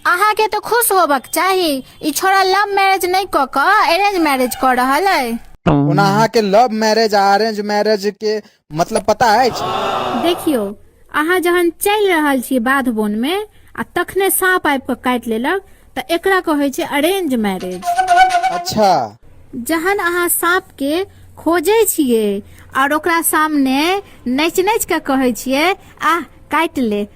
अहाँ के तो खुश होबक चाही ई छोरा लव मैरिज नहीं क क अरेंज मैरिज कर रहल है ओना अहाँ के लव मैरिज आ अरेंज मैरिज के मतलब पता अछि देखियो अहाँ जहन चलि रहल छी बाध बोन में आ तखने साँप आबि कऽ काटि लेलक तऽ एकरा कहै छै अरेंज मैरिज अच्छा जहन अहाँ साँप के खोजै छियै और ओकरा सामने नचि नचि कऽ कहै छियै आह काटि ले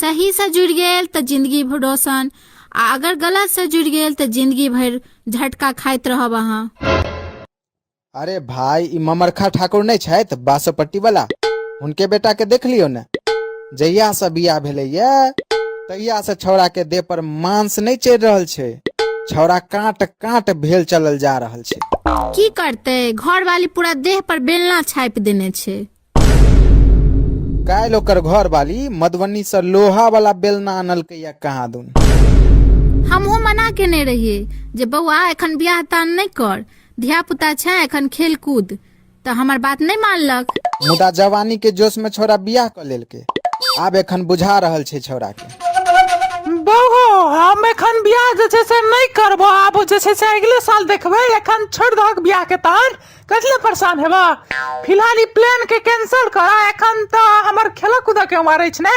सही से जुड़ि गेल तऽ जिंदगी भर रोशन आ अगर गलत से जुड़ि गेल तऽ जिंदगी भर झटका खाइत रहब अहाँ अरे भाई ई ममरखा ठाकुर नहि छथि बासोपट्टी वाला हुनके बेटा के देख लियौ ने जहिया से बियाह भेलैया तहिया से छौड़ा के देह पर मांस नहि चढ़ि रहल छै छौड़ा काट काट भेल चलल जा रहल छै की करते घर वाली पूरा देह पर बेलना छापि देने छै काल्हि ओकर घर वाली मधुबनी से लोहा वाला बेलना आनलकै या कहाँ दून हमहूँ मना केने रहियै जे बौआ एखन बियाह तान नहि कर धिया पुता छै एखन खेल कूद तऽ हमर बात नहि मानलक मुदा जवानी के जोश में छौड़ा बियाह कर लेलकै आब एखन बुझा रहल छै छौड़ा के बौहो हम एखन बियाह जे छै से नहि करबो आब जे छै से अगिले साल देखबै एखन छोड़ि दहक बियाह के तान कथि ले परेशान हेबऽ फिलहाल ई प्लान के कैंसिल करऽ एखन तऽ हमर खेलऽ कूदऽ के उमर अछि ने